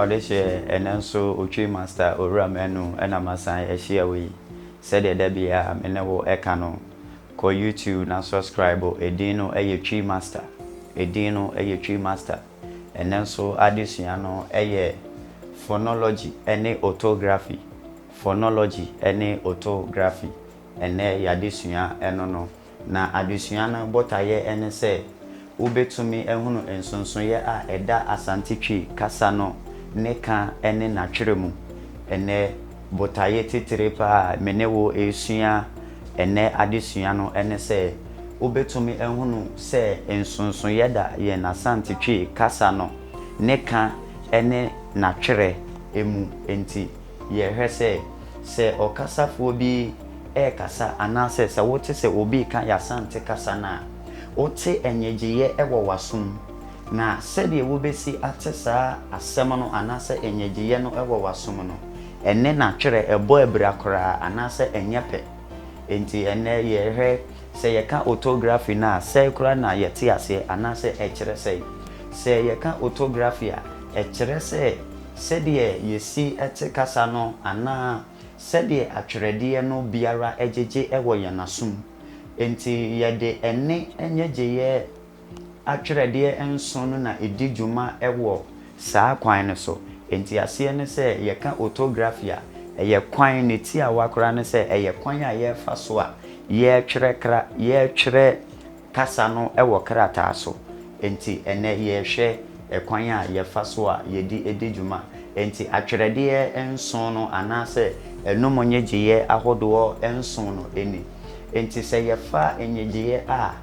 Ɔde hyɛɛ ɛnnɛ nso Otwi Masta Owura Manu na masan ahyia wo yi sɛdeɛ da biaa me ne wo ɛka no kɔ YouTube na suscribe ɛdin no yɛ Twi Masta ɛdin no yɛ Twi Masta ɛnnɛ nso adesua no yɛ Phonology ne Otography Phonology ne Otography ɛnnɛ yɛadesua ɛno no. Na adesua no botaeɛ ne sɛ wobɛtumi ahunu nsonsonoeɛ a ɛda Asante Twi kasa no ne ka ne n'atwerɛ mu. Ɛnnɛ, botaeɛ titire pa ara a me ne wo resua ɛnnɛ adesua no ne sɛ wobɛtumi ahunu sɛ nsonsonoeɛ da yɛn Asante Twi kasa no ne ka ne n'atwerɛ mu. Enti. Yɛhwɛ sɛ, sɛ ɔkasafoɔ bi rekasa anaasɛ sɛ wote sɛ obi reka y'Asante kasa no a, wote nnyegyeeɛ wɔ w'asom. Na sɛdeɛ wobɛsi ate saa asɛm no anaasɛ nnyegyeeɛ no wɔ w'asom no, ɛne na twerɛ ɛbɔ abira koraa anaasɛ ɛnyɛ pɛ. Enti ɛnnɛ yɛhwɛ sɛ yɛka otography no a, sɛn koraa na yɛte aseɛ anaasɛ ɛkyerɛ sɛn. Sɛ yɛka otography a, ɛkyerɛ sɛ Sɛdeɛ yɛsi te kasa no anaa sɛdeɛ atwerɛdeɛ no biara gyegye wɔ yɛn asom. Enti yɛde ɛnne nnyegyeeɛ atwerɛdeɛ nson no na ɛdi dwuma wɔ saa kwan no so. Enti aseɛ ne sɛ yɛka otography a, ɛyɛ kwan, ne tiawa koraa ne sɛ ɛyɛ kwan a yɛfa so a yɛretwerɛ kra, yɛretwerɛ Kasa no wɔ krataa so, enti ɛnnɛ yɛrehwɛ kwan a yɛfa so a yɛde di dwuma. Enti atwerɛdeɛ nson no anaasɛ ɛnum nnyegyeeɛ ahodoɔ nson no ni. Enti sɛ yɛfa nnyegyeeɛ a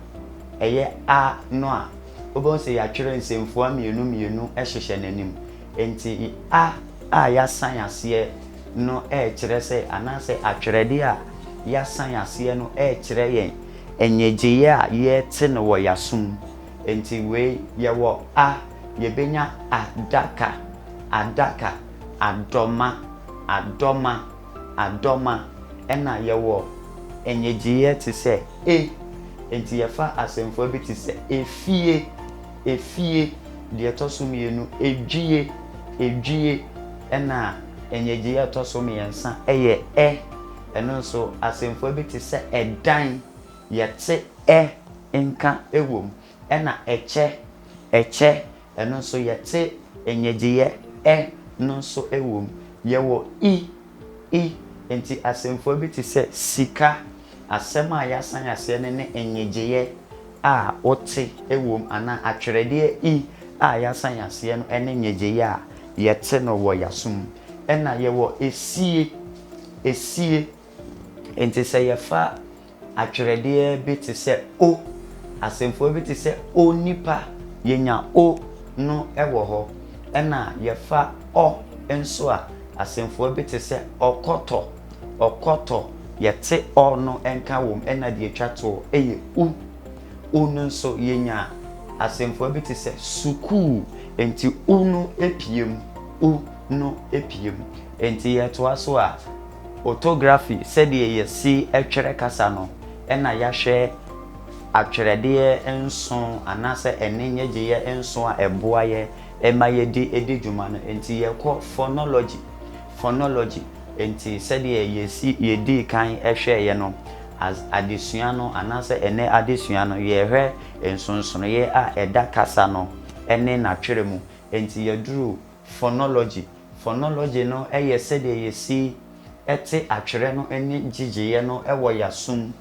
ɛyɛ a no a, wobɛhu sɛ yɛatwerɛ nsɛmfua mmienu mmienu hyehyɛ n'anim. Enti a a yɛasan aseɛ no rekyerɛ sɛ anaasɛ atwerɛdeɛ a yɛasan aseɛ no rekyerɛ yɛn. Nnyegyeeɛ a yɛte no wɔ y'asom nti wei yɛwɔ a yɛbɛnya adaka adaka adɔma adɔma adɔma ɛna yɛwɔ nnyegyeeɛ te sɛ e nti yɛfa asɛmfua bi te sɛ efie efie deɛ ɛtɔ so mmienu edwie edwie ɛna nnyegyeeɛ a ɛtɔ so mmiɛnsa yɛ ɛ. Ɛno nso, asɛmfua bi te sɛ ɛdan, yɛte ɛ nka wom, ɛnna ɛkyɛ, ɛkyɛ, ɛno nso yɛte nnyegyeeɛ ɛ no nso wom. Yɛwɔ i, i. Enti asɛmfua bi te sɛ sika, asɛm a yɛasan aseɛ no ne nnyegyeeɛ a wote wom anaa atwerɛdeɛ i a yɛasan aseɛ no ne nnyegyeeɛ a yɛte no wɔ yɛaso mu. Ɛnna yɛwɔ esie, esie. Enti sɛ yɛfa atwerɛdeɛ bi te sɛ O, asɛmfua bi te sɛ onipa, yɛnya O no wɔ hɔ. Ɛna yɛfa Ɔ nso a, asɛmfua bi te sɛ ɔkɔtɔ, ɔkɔtɔ, yɛte Ɔ no nka wɔ mu, ɛna deɛ ɛtwa toɔ yɛ U. U no nso, yɛnya asɛmfua bi te sɛ sukuu. Enti U no pue mu, U no pue mu. Enti yɛtoa so a, otography, sɛdeɛ yɛsi twerɛ kasa no, ɛna yɛahwɛ atwerɛdeɛ nso anaasɛ ɛnne nnyegyeeɛ nso a ɛboa yɛ ma yɛdi di dwuma no. Enti yɛkɔ phonology, phonology, enti sɛdeɛ yɛsi yɛdii kan hwɛeɛ no, as adesua no anaasɛ ɛnnɛ adesua no, yɛrehwɛ nsonsonoeɛ a ɛda kasa no ne n'atwerɛ mu. Enti yɛduru Fonology, Fonology no yɛ sɛdeɛ yɛsi te atwerɛ no ne gyegyeeɛ no wɔ y'asom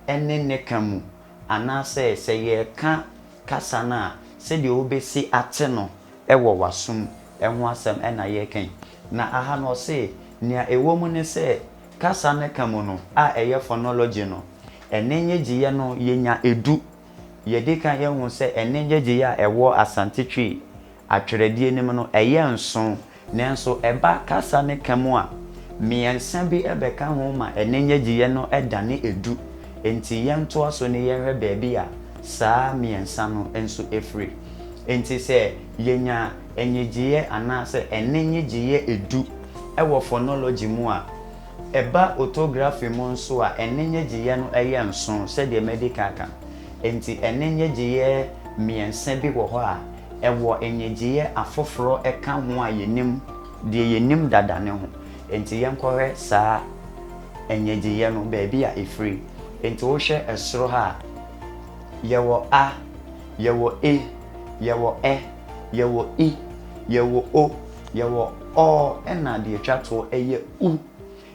ne ne ka mu, anaasɛ sɛ yɛreka kasa no a, sɛdeɛ wobɛsi ate no wɔ w'asom ho asɛm na yɛreka yi. Na aha no ɔse, nea ɛwɔ mu ne sɛ, kasa no ka mu no a ɛyɛ Fonology no, ɛnne nnyegyeeɛ no yɛnya du. Yɛdi kan yɛhu sɛ ɛnne nnyegyeeɛ a ɛwɔ Asante Twi, Atwerɛdeɛ no mu no, ɛyɛ nson, nanso ɛba kasa ne ka mu a, mmiɛnsa bi bɛka ho ma ɛne nnyegyeeɛ no dane edu. Enti yɛntoa so ne yɛnhwɛ baabi a saa mmiɛnsa no nso firi. Enti sɛ yɛnya nnyegyeeɛ anaasɛ ɛne nnyegyeeɛ edu wɔ fɔnɔlɔgye mu a, ɛba ɔtɔgrafi mu nso a, ɛne nnyegyeeɛ no yɛ nson sɛdeɛ madi kan aka no. Enti ɛne nnyegyeeɛ mmiɛnsa bi wɔ hɔ a, Ɛwɔ nnyegyeeɛ afoforɔ ka ho a yɛnim, deɛ yɛnim dada no ho. Enti yɛnkɔhwɛ saa nnyegyeeɛ no, baabi a ɛfiri. Enti wohwɛ soro ha a, yɛwɔ a, yɛwɔ e, yɛwɔ ɛ, yɛwɔ i, yɛwɔ o, yɛwɔ ɔ, ɛnna deɛ ɛtwa toɔ yɛ u.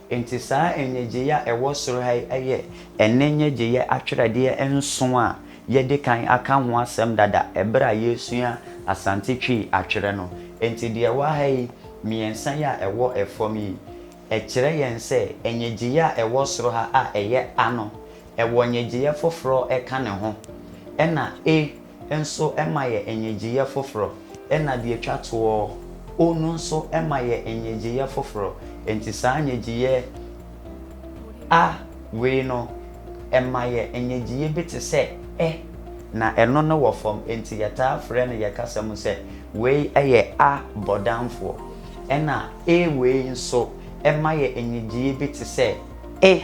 Enti saa nnyegyeeɛ a ɛwɔ soro ha yi yɛ ɛnnɛ nnyegyeeɛ atwerɛdeɛ nson a yɛadi kan aka ho asɛm dada berɛ a yɛresua Asante Twi atwerɛ no. Enti deɛ ɛwɔ ha yi, mmiɛnsa yi a ɛwɔ fam yi, ɛkyerɛ yɛn sɛ nnyegyeeɛ a ɛwɔ soro ha a ɛyɛ A no, ɛwɔ nnyegyeeɛ foforɔ ka ne ho, ɛnna E, nso ma yɛ nnyegyeeɛ foforɔ, ɛna deɛ ɛtwa toɔ, o no nso ma yɛ nnyegyeeɛ foforɔ, enti saa nnyegyeeɛ, a, wei no, ɛma yɛ nnyegyeeɛ bi te sɛ, ɛ, na ɛno no wɔ fam, enti yɛtaa frɛ no yɛ kasa mu sɛ, wei yɛ a bɔdamfoɔ, ɛna e wei nso ma yɛ nnyegyeeɛ bi te sɛ, e,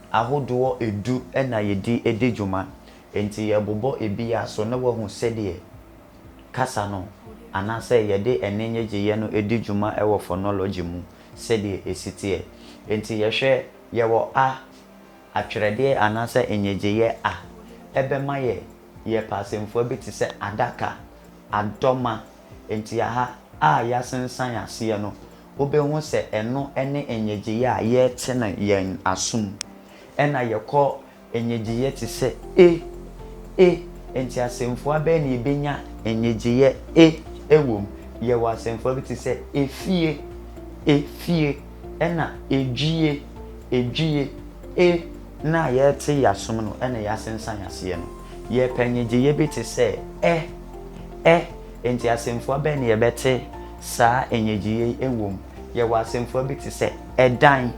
ahodoɔ du na yɛdi di dwuma, enti yɛrebobɔ biara so na woahu sɛdeɛ kasa no anaasɛ yɛde ɛnne nnyegyeeɛ no di dwuma wɔ fonology mu sɛdeɛ ɛsi teɛ. Enti yɛhwɛ, yɛwɔ a, atwerɛdeɛ anaasɛ nnyegyeeɛ a, ɛbɛma yɛ yɛ pɛasɛmfua bi te sɛ adaka, adɔma. Enti aha a yɛasensan aseɛ no, wobehu sɛ ɛno ne nnyegyeeɛ a yɛte no yɛn asom. Ɛna yɛkɔ nnyegyeeɛ te sɛ E, E, enti asɛmfua bɛn na yɛbɛnya nnyegyeeɛ E wɔ mu? Yɛwɔ asɛmfua bi te sɛ efie, efie, ɛna edwie, edwie. E no a yɛte yɛn asom no na yɛasensan aseɛ no. Yɛpɛ nnyegyeeɛ bi te sɛ Ɛ, Ɛ, enti asɛmfua bɛn na yɛbɛte Saa nnyegyeeɛ yi wom. Yɛwɔ asɛmfua bi te sɛ ɛdan,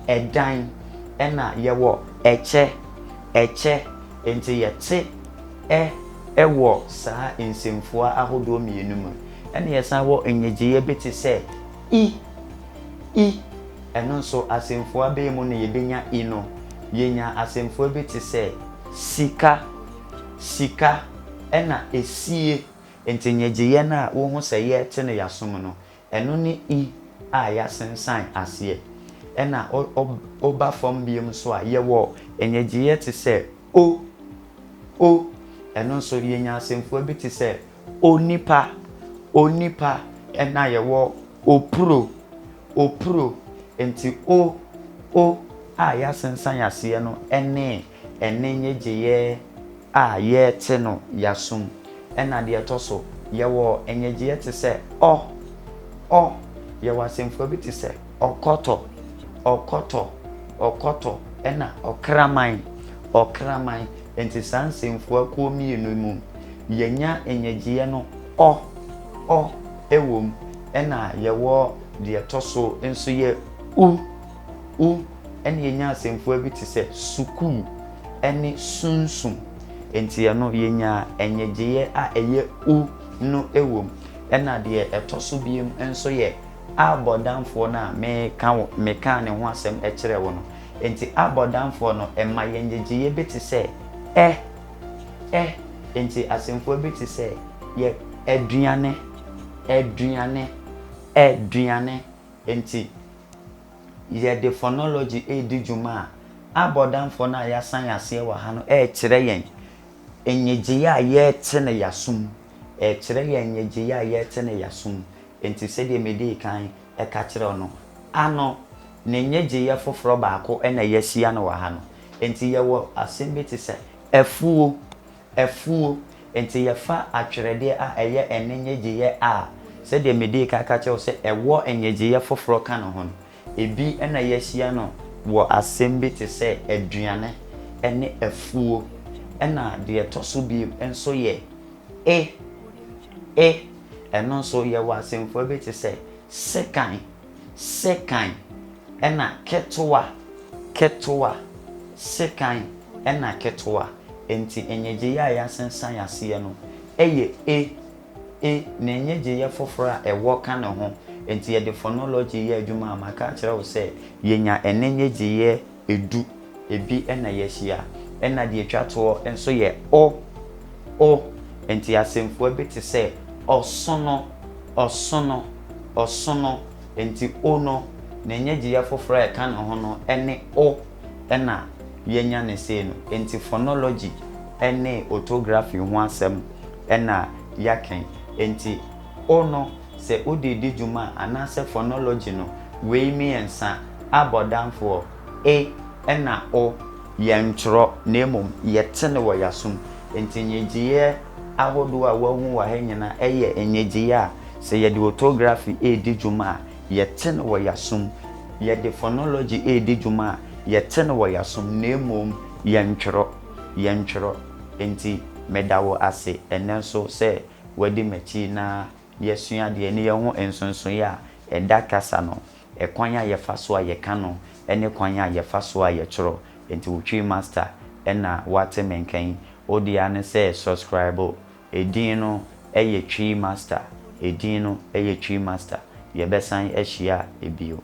ɛdan, ɛna yɛwɔ ɛkyɛ, ɛkyɛ. Enti yɛte ɛ wɔ saa nsɛmfua ahodoɔ mmienu mu. Ɛna yɛsan wɔ nnyegyeeɛ bi te sɛ i, i. Ɛno nso asɛmfua bɛn mu na yɛbɛnya i no? Yɛnya asɛmfua bi te sɛ sika, sika, ɛna esie. Enti nnyegyeeɛ no a wohu sɛ yɛrete no yɛasom no, ɛno ne I a yɛasensan aseɛ. Ɛna wo woba fam biom nso a, yɛwɔ nnyegyeeɛ te sɛ O, O. Ɛno nso yɛnya asɛmfua bi te sɛ onipa, onipa. Ɛna yɛwɔ opuro, opuro. Enti O, O a yɛasensan aseɛ no ne Ɛnne nnyegyeeɛ a yɛte no yɛasom. Ɛna deɛ ɛtɔ so, yɛwɔ nnyegyeeɛ te sɛ ɔ, ɔ. Yɛwɔ asɛmfua bi te sɛ ɔkɔtɔ, ɔkɔtɔ, ɔkɔtɔ, ɛna ɔkraman, ɔkraman. Enti saa nsɛmfua kuo mmienu yi mu, yɛnya nnyegyeeɛ no ɔ, ɔ wɔ mu. Ɛna yɛwɔ deɛ ɛtɔ so nso yɛ u, U ɛne yɛnya asɛmfua bi te sɛ sukuu ɛne sunsum. Enti ɛno yɛnya ɛnyegyeeɛ a ɛyɛ u no wɔ mu. Ɛna deɛ ɛtɔ so biom nso yɛ abɔdamfoɔ no a me ka wo me kaa ne ho asɛm kyerɛɛ wo no. Enti abɔdamfoɔ no ɛma yɛ nyegyeeɛ bi te sɛ ɛ, ɛ. Enti asɛmfua bi te sɛ yɛ, aduane, aduane, aduane, Enti, yɛde phonology redi dwuma a, abɔdamfoɔ no a yɛasan aseɛ wɔ ha no rekyerɛ yɛn nnyegyeeɛ a yɛte no yɛaso mu. Ɛrekyerɛ yɛn nnyegyeeɛ a yɛte no yɛaso mu. Enti, sɛdeɛ medii kan ka kyerɛɛ wo no, a no, ne nnyegyeeɛ foforɔ baako na yɛahyia no wɔ ha no. Enti, yɛwɔ asɛm bi te sɛ afuo. Afuo. Enti yɛfa atwerɛdeɛ a ɛyɛ ɛnne nnyegyeeɛ a, sɛdeɛ medii kan ka kyerɛɛ wo sɛ ɛwɔ nnyegyeeɛ foforɔ ka ne ho no, ebi na yɛahyia no wɔ asɛm bi te sɛ aduane ne afuo. Ɛna deɛ ɛtɔ so bio nso yɛ e, e. Ɛno nso, yɛwɔ asɛmfua bi te sɛ sekan Sekan na ketewa, ketewa, sekan na ketewa. Enti nnyegyeeɛ a yɛasensan aseɛ no yɛ e, e, ne nnyegyeeɛ foforɔ a ɛwɔ ka ne ho. Enti yɛde phonology yɛ adwuma a, maka akyerɛ wo sɛ yɛnya ɛnne nnyegyeeɛ Edu, ebi na yɛahyia. Ɛna deɛ ɛtwa toɔ nso yɛ o, o. Enti asɛmfua bi te sɛ, ɔsono, ɔsono, ɔsono. Enti o no, ne nnyegyeeɛ foforɔ a ɛka ne ho no ne o. Ɛna yɛanya no sei no. Enti phonology ne orthography ho asɛm na yɛaka yi. Enti. O no, sɛ ode di dwuma a, anaasɛ fɔnɔlɔgyi no, wei mmiɛnsa, a bɔ danfoɔ, e ɛna o. Yɛntwerɛ, na mmom yɛte no wɔ y'asom. Nti nnyegyeeɛ ahodoɔ a woahu wɔ ha nyinaa yɛ nnyegyeeɛ a, sɛ yɛde otography redi dwuma a, yɛte no wɔ y'asom. Yɛde fɔnɔlɔgyi redi dwuma a, yɛte no wɔ y'asom, na mmom yɛntwerɛ. Yɛntwerɛ. Nti meda wo ase ɛnnɛ nso sɛ wadi m'akyi na yɛasua adeɛ ne yɛahu nsonsoeɛ a ɛda kasa no, ɛkwan a yɛfa so a yɛka no ne kwan a yɛfa so a yɛtwerɛ. Enti wo Twi master na wate me nka yi. Wo deɛ ara ne sɛ subscribe. Edin no yɛ Twi master. Edin no yɛ Twi master. Yɛbɛsan ahyia bio.